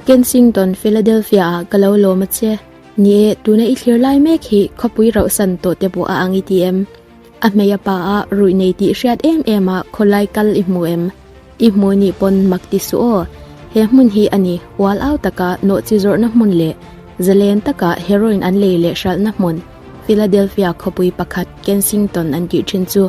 Kensington, Philadelphia, ah ka lo lawm a che. Ni e, tuna i thlir lai mek hi khawpui rauhsan tawh te pawh a ang i ti em? A hmei a pa ah ruih nei tih hriat em em a khawlai kal i hmu em? I hmui nih pawn mak ti suh aw. He hmun hi a ni ual au taka nawhchi zawrhna hmun leh zalen taka heroin an lei leh hralhna hmun Philadelphia khawpui pakhat Kensington an tih thin chu.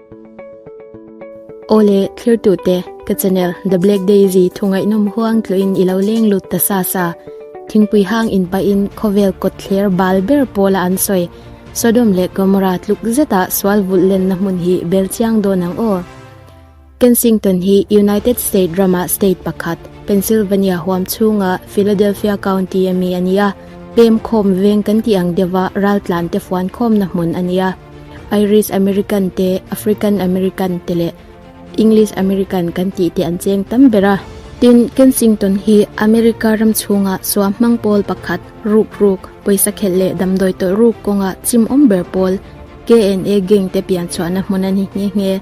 Awle thlertute, ka channel The Black Daisy thungaihnawm huang tluin i lo lenglut ta sa sa. Thingpui hang in pahin khawvel kawtthler bal ber pawla an sawi. Sodom leh Gomorrah tluk zeta sual vulh lenna hmun hi bel chiang dawn ang aw. Kensington hi United States rama state pakhat, Pennsylvania huam chhunga Philadelphia County ami a ni a, pemkhawm veng kan tih ang deuha raltlan tefuan khawmna hmun a ni a. Irish American te, African American te leh English American kan tih te an cheng tam ber a. Tin, Kensington hi America ram chhunga suah hmang pawl pakhat, ruk ruk, pawisa khelh leh damdawi tawlh ruk kawnga chimawm ber pawl, KNA gang te pianchhuahna hmun a ni nghe nghe.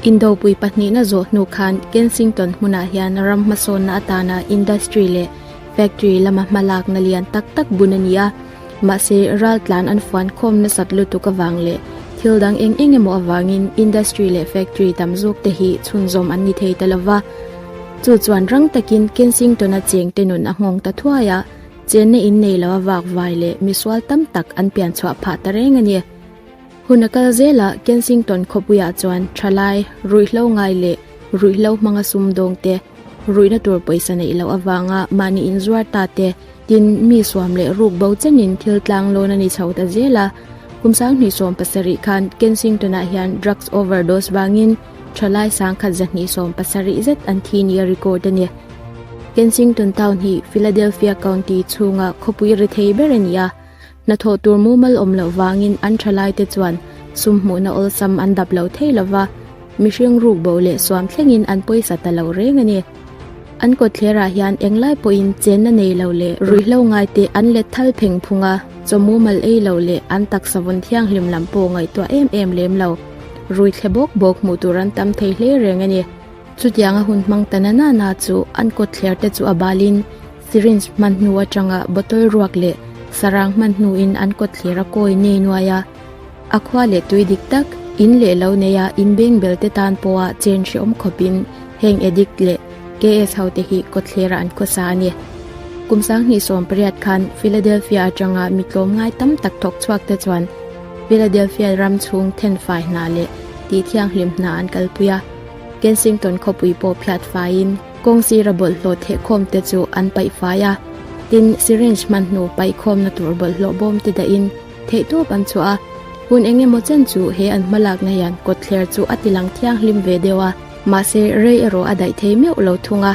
Indopui pahnihna zawh hnu khan Kensington hmunah hian ram hmasawnna atana industry leh factory lama hmalakna lian tak tak bun a ni a. Mahse, ral tlan an fuan khawm nasat lutuk avang leh thil dang eng eng emaw avangin industry leh factory tam zawk te hi chhunzawm an ni thei ta lo va. Chu chuan rang takin Kensington-a chengte nun a nghawng ta thuai a, chenna in nei loha vakvai leh misual tam tak an pian chhuah phah ta reng a ni. Hun a kal zela Kensington khawpuiah chuan thalai, ruihhlo ngai leh ruihhlo hmanga sumdawngte, Ruihna tur pawisa neih loh avanga mahni inzuar ta te tin mi suam leh ruk bo chenin thil tlang lawn a ni chho ta zel a. Kum sang hnisawm pasarih khan Kensington ah hian drugs overdose vangin tha lai sang khat za hnisawm pasarih zet an thi nia record a ni. Kensington town hi Philadelphia County chhunga khawpui ri thei ber a ni a. Hnathawh tur mumal awm loh vangin an tha laite chuan sumhmuhna awlsam an dap lo thei lova, mihring ruk bo leh suam thlengin an pawisa ta lo reng a ni. An kawtthlerah hian englai pawhin chenna nei lo leh ruihhlo ngaite an let thal pheng phung a, chaw mumal ei lo leh an taksa vun thianghlim lam pawh ngaihtuah em em lem lo, ruithle bawk bawk hmuh tur an tam thei hle reng a ni. Chutianga hun hmang ta nana na chu an kawt thler te chu a balin syringe hman hnu atanga bottle ruak leh sarang hman hnuin an kawt thler a kawi nei nuai a. A khua leh tui dik tak, in leh lo nei a in beng bel te tan pawha chen hreawm khawpin heng addict leh KS hote hi kawt thlerah an khaw sa a ni. Kum sang hnih sawm pariat khan Philadelphia atanga mi tlawm ngai tam tak thawk chhuak te chuan Philadelphia ram chhung then fai hna leh tihthianghlim hna an kalpui a. Kensington khawpui pawh phiat faiin kawng sira bawlhhlawh thehkhawm te chu an paih fai a, tin syringe hmanhnu paih khawmna tur bawlhhlawh bawm te dahin theih tawp an chhuah a. Hun eng emaw chen chu he an hma lak hnaihan kawtthler chu a tilang thianghlim ve deuh a, mahse rei erawh a daih thei meuh lo thung a.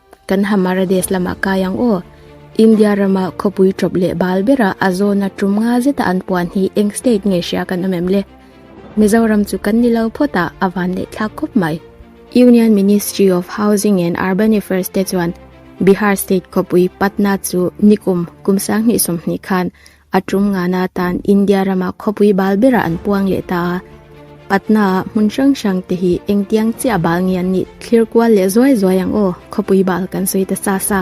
Kan Hamara Desh lamah kai ang aw. India rama khawpui tawp leh bal bera a zona tum nga zeta an puan hi eng state nge hria kan awm em le? Mizoram chu kan ni lo phawt a, a van leh thlak khawp mai. Union Ministry of Housing and Urban Affairs te chuan Bihar state khawpui Patna chu nikum kum sang hnih sawm hnih khan A ṭum ngana atan India rama khawpui bal berah an puang leh ta a. Patna-a hmun hrang hrang te hi engtiang chiah bal nge an nih? Thlir kual leh zuai zuai ang aw, khawpui bal kan sawi ta sa sa.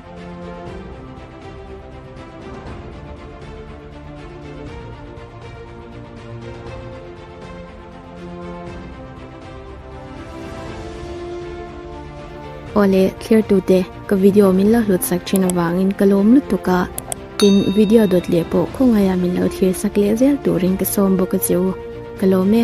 Aw le clear tu te ka video min lo hlut sak thin awangin ka lawm lutuk a tin video dawt leh pawh khawngaia min lo thlir sak leh zel turin ka sawm bawk a che u ka lawm e.